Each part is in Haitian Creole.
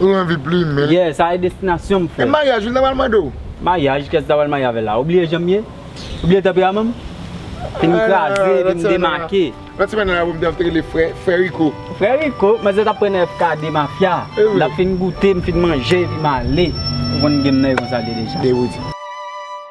Ou anvi plumen. Yeah sa e destinasyon m frè. E maryaj ou li ta pral mande w? Maryaj kiyès li ta pral marye avè l la? Ou bliye jan m ye? Ou bliye tanperaman m? Epi m kraze, epi m demake. Lòt semèn nan album te ap rele Frè Rico. Frè Rico? Manzè t ap pran nan FKD mafya. Evre. L ap fin goute, m fin manje epi m ale. Ou konn game nan e konsa l ye deja. Dewood.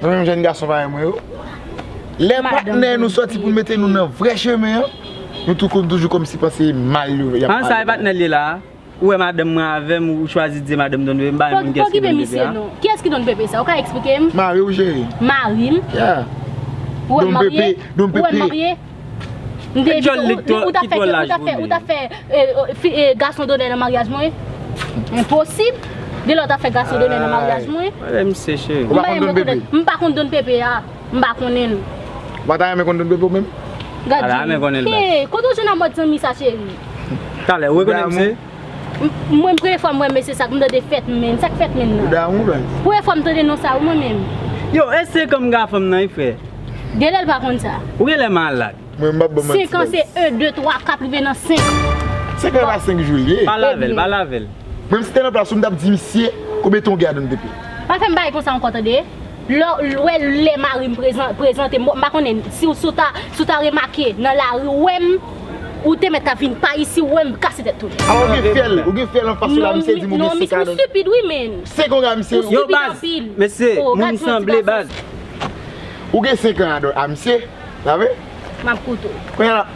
Nan menm jèn gason parèy mwen yo, lè patnè nou sòti pou mete nou nan vrè chemen an, nou tou konn toujou kòmsi pan se mal yo yap pale. An sa e patnèl ye la a? Ou wè madanm mwen avèm ou chwazi di madanm don bebe m pa menm konn kiyès ki don bebe a. Kiyès ki don bebe sa ou ka eksplike m? Mariw cheri. Marim? Yeah. Ou wèm marye? Ou wèm marye? Mte di ou, ou ta fè, ou ta fè, ou ta fè e gason donè nan maryaj mwen? Enposib! Gen lè ou ta fè gason donè nan maryaj mwen? Pale misye cheri. Ou pa konn Don Pepe? M pa konn Don Pepe a. M pa konnen l. Ou pa ta renmen konn Don Pepe ou menm? Gad di. Ala, renmen konnen l baz. Hee, kote ou jwenn a mòd zanmi sa cheri? Talè, ou rekonèt misye? Mwen premye fwa m wè mesye sa, m tande fèt menn, sak fèt menn nan? Premye fwa m tande non sa wi mwen menm. Yo eske kom ga fanm nan wi frè. Genlè l pa konn sa. Ou genlè malad. 5 an se 1 2 3 4 rive nan 5. 5 an e pa 5 jou l ye. Pale avèl, pale avèl. Mwen m si te nan plas ou m tap di misye konbyen tan ou gen a dan w depi. Pa fèm bagay konsa ankò tande. Lè w wè lè mari m prezante m, m pa konnen si w ta remake nan lari w wè m, ou te mèt ap vin pa isi w wè m kase tèt tou. A ou gen fyèl, ou gen fyèl anfas ou la misye di m ou gen 5 ane. Ou stupid wi menn. 5 an a misye. Yo baz, mesye, moun m sanble baz. Ou gen 5 an a misye, sa vre? M ap koute w.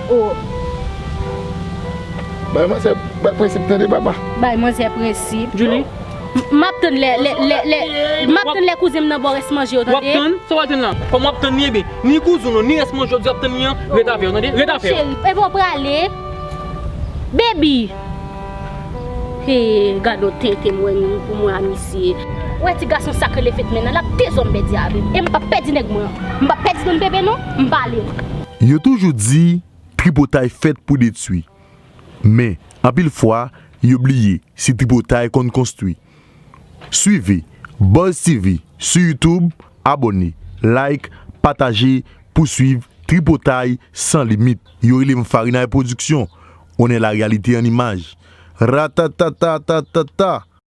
Oh. Bay manzè bay prensip tande papa. Bay manzè prensip. Djouly. Map tann lè lè lè lè map tann lè kouzenm nan baw rès manje yo tande. Wap tann sa wal tann la kòm wap tann li ebyen ni kouzenw lan ni rès manje yo wap tann li an ret avèw tande ret avèw. Cheri ebyen w prale baby hee gadon tenten m wè pou mwen a misye. Ou wè ti gason sak rele fetmen an lap dezonbè di avèm em pap pèdi nèg mwen an m pap pèdi don bebe non m pale. Yo toujou di tripotay fèt pou detwi, men anpil fwa yo bliye si tripotay konn konstwi. Swive Buzz TV sou YouTube, abòne, like, pataje pou swiv Tripotay san limit. Yo rele m Farinay Production, on est la réalité en image. Ratatatatatata!